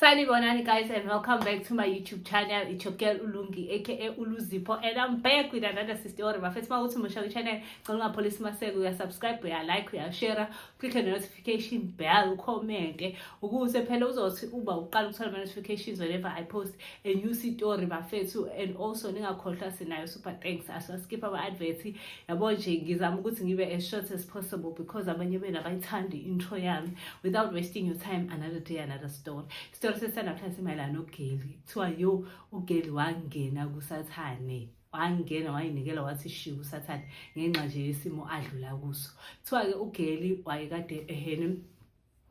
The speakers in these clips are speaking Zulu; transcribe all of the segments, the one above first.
Sanibonani guys and welcome back to my YouTube channel. It's your girl Ulungi aka Uluzipo and I'm back with another sister or my first mawuthi musha ku channel ngicela police maseke uya subscribe uya like uya share click the notification bell comment ukuze phela uzothi uba uqala ukuthola ama notifications whenever I post a new story bafethu and also ningakhohlwa sinayo super thanks aso skip our advert yabo nje ngizama ukuthi ngibe as short as possible because abanye benu abayithandi intro yami without wasting your time another day another story isitori sesanamhlanje simayelana nogeli kuthiwa yo ugeli wangena kusathane wangena wayinikela wathi shiya usathane ngenxa nje yesimo adlula kuso kuthiwa-ke ugeli wayekade ehene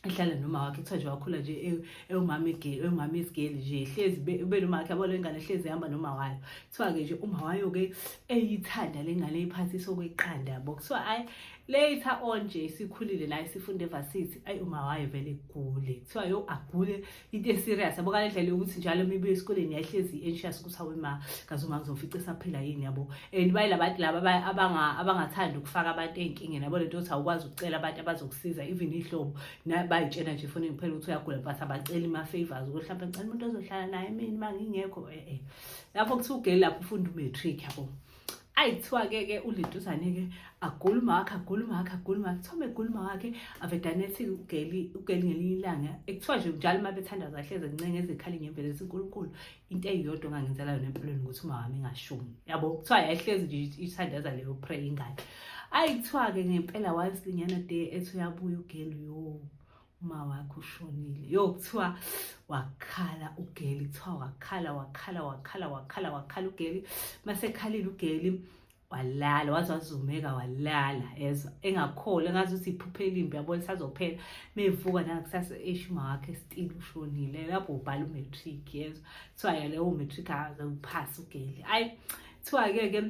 ehlala noma wakhe kuthiwa nje wakhula nje e-, ewumama egeli ewumama esigeli nje hlezi ube noma wakhe yabona ingane hlezi ihamba noma wayo kuthiwa-ke nje uma wayo-ke eyithanda le ngane eyiphathisa okweqanda yabo kuthiwa ayi later on nje isikhulile la isifunda evasithi ayi uma wayo vele igule kuthiwa yo agule into eserious yabo ngale ndlela yokuthi njalo uma ibuye esikoleni yayihlezi i-anxious ukuthi hawe ma kaze uma ngizofica esaphila yini yabo and bayila bantu laba abangathandi ukufaka abantu ey'nkingeni yabo le nto yokuthi awukwazi ukucela abantu abazokusiza even iy'hlobo bayitshena nje funa ngiphela ukuthi uyagula but abaceli ama-favors ukuthi hlampe ngicela umuntu ozohlala naye mina uma ngingekho e-e lapho kuthiwa ugeli lapho ufunda umatric yabo ayi kuthiwa-ke ke uliduzane-ke agula umawakhe agula umawakhe agula umawakhe kuthiwa megula umawakhe avedane ethi ugeli ugeli ngelinye ilanga ekuthiwa nje njalo uma bethandaza ahleze ncenga ezikhala inyembezi ethi unkulunkulu into eyodwa ongangenzela yona empilweni ukuthi umawami ingashumi yabo kuthiwa yayihlezi nje ithandaza leyo pray ingane ayi kuthiwa-ke ngempela wanslinyana de ethi uyabuya ugeli yoo uma wakho ushonile yo kuthiwa wakhala ugeli kuthiwa wakhala wakhala wakhala wakhala wakhala ugeli masekhalile ugeli walala waze wazumeka walala ezwa engakholi engazi ukuthi iphuphe elimbi yabo lisazophela mevuka nangakusasa eshuma wakhe stile ushonile lapho ubhala umatric yezwa kuthiwa yalewo matric akaze uphase ugeli ayi kuthiwa-ke ke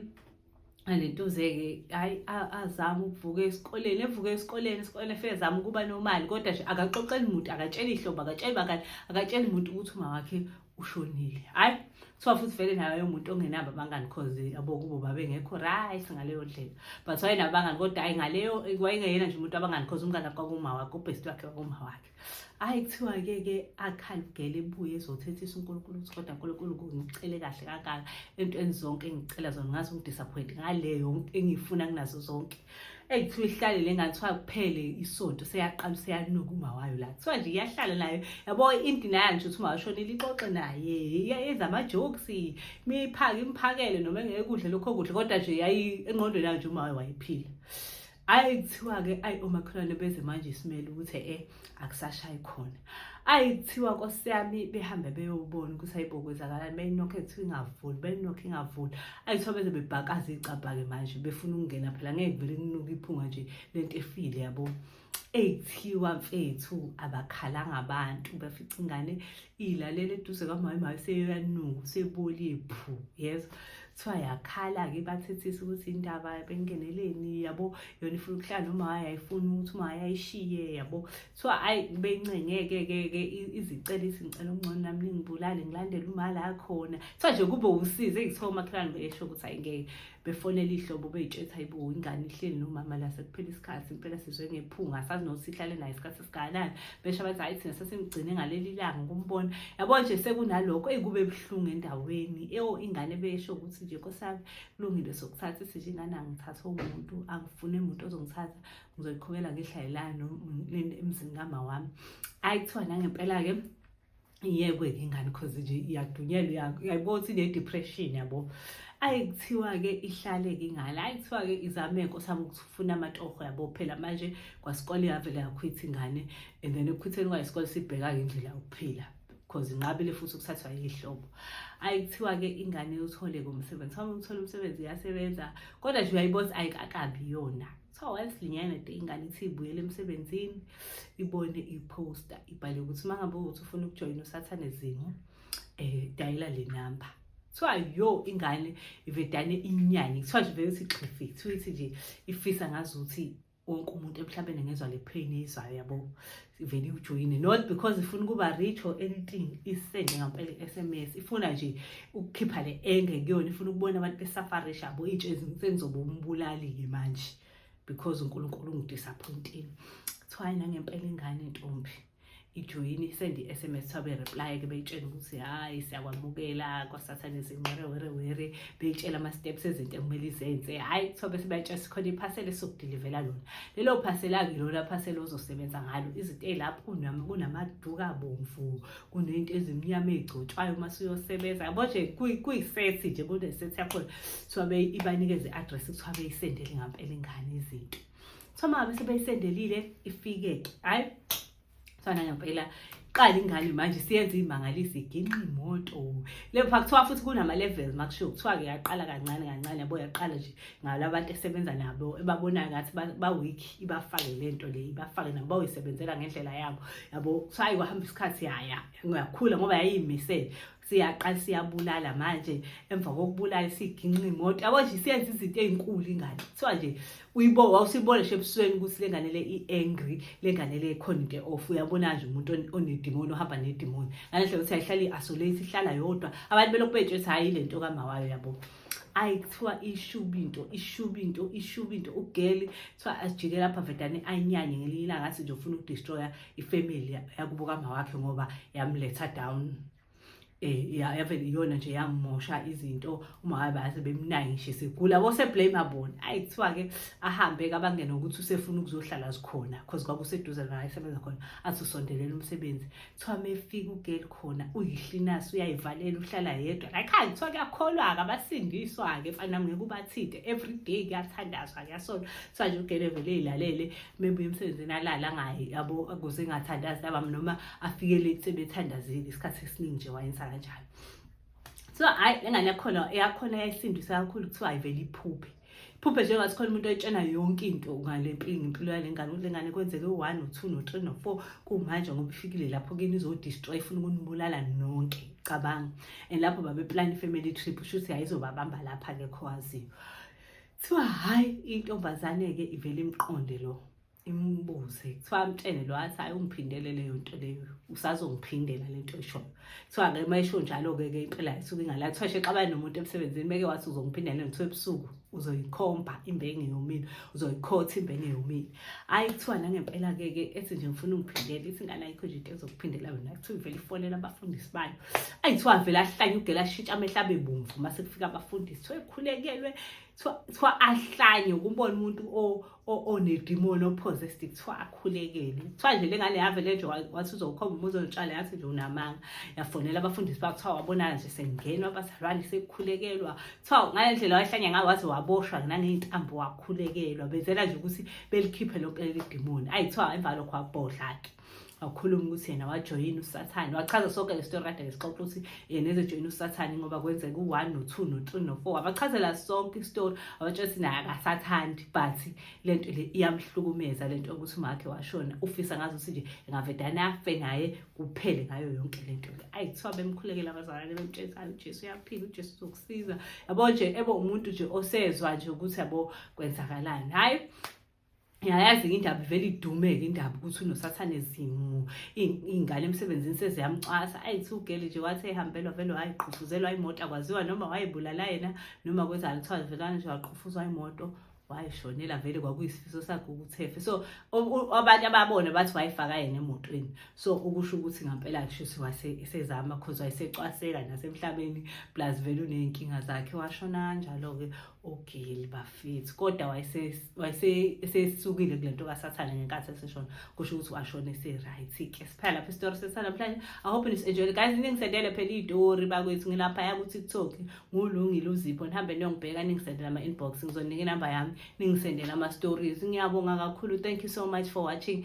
alentuzeke hayi azama ukuvuka esikoleni evuka esikoleni esikoleni efike zama ukuba nomali kodwa nje akaxoxeli muntu akatsheli ihlobo akatsheli bakani akatsheli muntu ukuthi uma wakhe ushonile hayi kuthiwa futhi vele nayo yomuntu ongenabo abangani cause yabo kubo babengekho right ngaleyo ndlela but wayena abangani kodwa hayi ngaleyo wayengeyena nje umuntu abangani cause umngane kwakuma wakhe ubhest wakhe kwakuma wakhe hayi kuthiwa-ke ke akhalugele ebuye ezothethisa unkulunkulu ukuthi kodwa nkulunkulu ngicele kahle kangaka entweni zonke engicela zona ngazi ungidisappoint ngale yonke engiyifuna kunazo zonke eyi kuthiwa ihlalele ngathiwa kuphele isonto seyaqala useyanuka umawayo la kuthiwa nje iyahlala nayo yabo inti nayo nje ukuthi ungashonile ixoxe naye yenza ama-jokes miphake imphakele noma engekudle lokho kudla kodwa nje yayi engqondweni yayo nje umawayo wayephila ayi kuthiwa-ke ayi omakhelwane beze manje simele ukuthi e akusashayi khona ayi kuthiwa nkosi yami behambe beyobona ukuthi ayibokwenzakalani beyinokho ekuthiwa ingavuli beyinokho ingavuli ayi kuthiwa beze bebhakaza iy'cabha-ke manje befuna ukungena phela ngeke vele kunuka iphunga nje lento efile yabo eyithiwa mfethu abakhalanga abantu bafica ingane ilalele eduze kamama hayi seyoyanuka sebolile phu yes kuthiwa yakhala-ke bathethisa ukuthi indaba bengeneleni yabo yona ifuna ukuhlala noma hayi ayifuni ukuthi uma hayi ayishiye yabo kuthiwa ayi bencengeke-ke-ke izicela izingicela okungcono nami ningibulale ngilandele umali akhona kuthiwa nje kube usize ngithiwa umakhelwane besho ukuthi ayingeke befonela ihlobo beyitshetha hayibo ingane ihleli nomama la sekuphela isikhathi impela sizwe ngephunga asazi nokuthi sihlale naye isikhathi esingakanani besho abathi hhayi thina sesimgcine ngaleli langa ukumbona yabo nje sekunalokho eyi kube buhlungu endaweni eyo ingane besho ukuthi nje nkosami kulungile sokuthatha isisho ingane angithathe umuntu angifune muntu ozongithatha ngizoyiqhubela ngehlayelani emzini kama wami ayi kuthiwa nangempela-ke iyekwe-ke ingane cause nje iyadunyelwa uyayibona ukuthi ne-depression yabo ayi kuthiwa-ke ihlale-ke ingane ayi kuthiwa-ke izameko sami ukufuna amatoho yabo phela manje kwasikole yavele yakhwitha ingane and then ekukhwitheni kwayo isikole sibheka-ke indlela yokuphila because inqabile futhi ukuthathwa yihlobo ayi kuthiwa-ke ingane yothole-ke umsebenzi uma uthole umsebenzi iyasebenza kodwa nje uyayibona ayikakabi yona kuthiwa once linyana de ingane ithi ibuyele emsebenzini ibone iphosta ibhale ukuthi uma ngabe ukuthi ufuna ukujoyina usathane zimo um eh, dayela le number kuthiwa yo ingane ivedane inyanye kuthiwa nje vele ukuthi xhifi kuthiwa ithi nje ifisa ngazuthi wonke umuntu emhlabeni ngezwa le pain eyizwayo yabo ivele iwujoyine not because ifuna ukuba rich or anything isende ngampela i-sms ifuna nje ukukhipha le enge kuyona ifuna ukubona abantu besafarisha abo intshe sengizoba umbulali-ke manje because unkulunkulu ungidisappointini kuthiwa nangempela ingane ntombi ijoyini isende i-sms kuthiwa bereply-ke beyitshela ukuthi hhayi siyakwamukela kwasathane zinqere were were beyitshela ama-steps ezinto ekumele izenze hhayi kuthiwa bese bayitshela sikhona iphasela esizokudilivela lona lelo phasela-ke lona phasela ozosebenza ngalo izinto ey'lapho kunamaduka bomvu kuney'nto ezimnyama ey'gcotshwayo uma suyosebenza yabo nje kuyisethi nje kunesethi yakhona kuthiwa ibanikeze i-address kuthiwa beyisendele ngampela ingane izinto kuthiwa uma ngabe sebeyisendelile ifike-ke hhayi fana ngempela qala ingane manje siyenza imangalisi iginqa imoto le pha kuthiwa futhi kunama levels makushiwo kuthiwa ke yaqala kancane kancane yabo yaqala nje ngalabantu esebenza nabo ebabonayo ngathi ba weak ibafake lento le ibafake nabo bayisebenzela ngendlela yabo yabo kuthiwa ayikwahamba isikhathi yaya ngakhula ngoba yayimisele siyaqala siyabulala manje emva kokubulala siginqa imoto yabo nje siyenza izinto ey'nkulu ingane kuthiwa nje uyibo wawusibona nje ebusweni ukuthi le ngane le i-angry le ngane le khona into e-off uyabona nje umuntu onedimoni ohamba nedimoni ngale ndlela ukuthi ayihlale i-isolate ihlala yodwa abantu belokhu betshe ukuthi hhayi le nto kamawayo yabo ayi kuthiwa ishuba into ishuba into ishuba into ugeli kuthiwa asijike lapha vedane anyanye ngelinye ilanga athi nje ufuna ukudestroya ifamily yakubo kama wakhe ngoba yamletha down eh yave iyona nje yamosha izinto uma wabe ase bemnayi nje sigula bose blame abona ayi kuthiwa ke ahambe kabangena ukuthi usefuna ukuzohlala zikhona cause kwakuseduze la isebenza khona athi usondelela umsebenzi kuthiwa mefika ugel khona uyihlinasi uyayivalela uhlala yedwa like hayi kuthiwa kuyakholwa ke abasindiswa ke mfana ngeke ubathide every day kuyathandazwa kuyasona kuthiwa nje ugel evele ilalele mebuye emsebenzini alala ngaye yabo akuze engathandazi labam noma afike late sebethandazile isikhathi esiningi nje wayenza kanjalo so hayi lengane yakhona eyakhona yayisindisa kakhulu kuthiwa ayivele iphuphe phuphe njengathi khona umuntu ayitshena yonke into ngale mpilo impilo yale ngane ukuthi le ngane kwenzeke u-one no-two no-three no-four kumanje ngoba ifikile lapho kini izodistroy ifuna ukunibulala nonke cabanga and lapho babeplani i-family trip shuthi yayizobabamba lapha-ke khowaziyo kuthiwa hhayi intombazane-ke ivele imqonde lo imbuze kuthiwa amtshene lo athi hayi ungiphindele leyo nto leyo usazongiphindela le nto eshoyo kuthiwa-ke uma esho njalo-ke ke impela isuke ingala kuthiwa shexabane nomuntu emsebenzini beke wathi uzongiphindela kuthiwa ebusuku uzoyikhomba imbenge yomile uzoyikhotha imbenge yomile hayi kuthiwa nangempela ke ke ethi nje ngifuna ungiphindele ithi ingane ayikho nje into ezokuphindela wena kuthiwa ivele ifonela abafundisi bayo ayi kuthiwa avele ahlanye ugela ashintsha amehla abe bomvu uma sekufika abafundisi kuthiwa ekhulekelwe kuthiwa ahlanye ukumbona umuntu onedimoni ophosestive kuthiwa akhulekele kuthiwa nje le ngane yavele nje wathi uzokhomba uma uzolitshala yathi nje unamanga yafonela abafundisi bakuthiwa wabonana nje sengingenwa abazalwane sekukhulekelwa so ngale ndlela wahlanya ngayo waze waboshwa naney'ntambo wakhulekelwa benzela nje ukuthi belikhiphe lonke leli dimoni ayi kuthiwa emva lokho wabhodla-ke wakhuluma ukuthi yena wajoyina usathane wachaza sonke le story kade lesixoxa ukuthi yena ezojoyina usathane ngoba kwenzeka u-one no-two no-three no-four wabachazela sonke istori wabatshela ukuthi naye akasathandi but le nto le iyamhlukumeza le nto yokuthi umakhe washona ufisa ngazi ukuthi nje engavedane afe naye kuphele ngayo yonke le nto ayi kuthiwa bemkhulekela abazalwane bemtshela hayi ujesu uyaphila ujesu uzokusiza yabo nje ebe umuntu nje osezwa nje ukuthi yabo kwenzakalani hhayi ngiyayazi indaba ivele idume-ke indaba ukuthi unosathane zimu iy'ngane emsebenzini seziyamcwasa ayi thi ugeli nje wathi eyihambelwa vele wayiqhufuzelwa imoto akwaziwa noma wayibulala yena noma kwenzani kuthiwa velana nje waqhufuzwa imoto wayishonela vele kwakuyisifiso sakhe ukuthefe so abantu ababona bathi wayifaka yena emotweni so ukusho ukuthi ngampela kushuthi wasezama cause wayesecwaseka nasemhlabeni plus vele uney'nkinga zakhe washona kanjalo-ke ugili bafethi kodwa wayesesukile kule nto kasathane ngenkathi eseshona kusho ukuthi washona ese-right-ke siphela lapho isitori sesanamhlanje ahope nisenjoyile guys ningisendele phela iy'tori bakwethu ngilapha yakuthi kuthokhi ngulungile uzipho nihambe niyongibheka ningisendela ama-inbox ngizonika inamba yami ningisendela ama-stories ngiyabonga kakhulu thank you so much for watching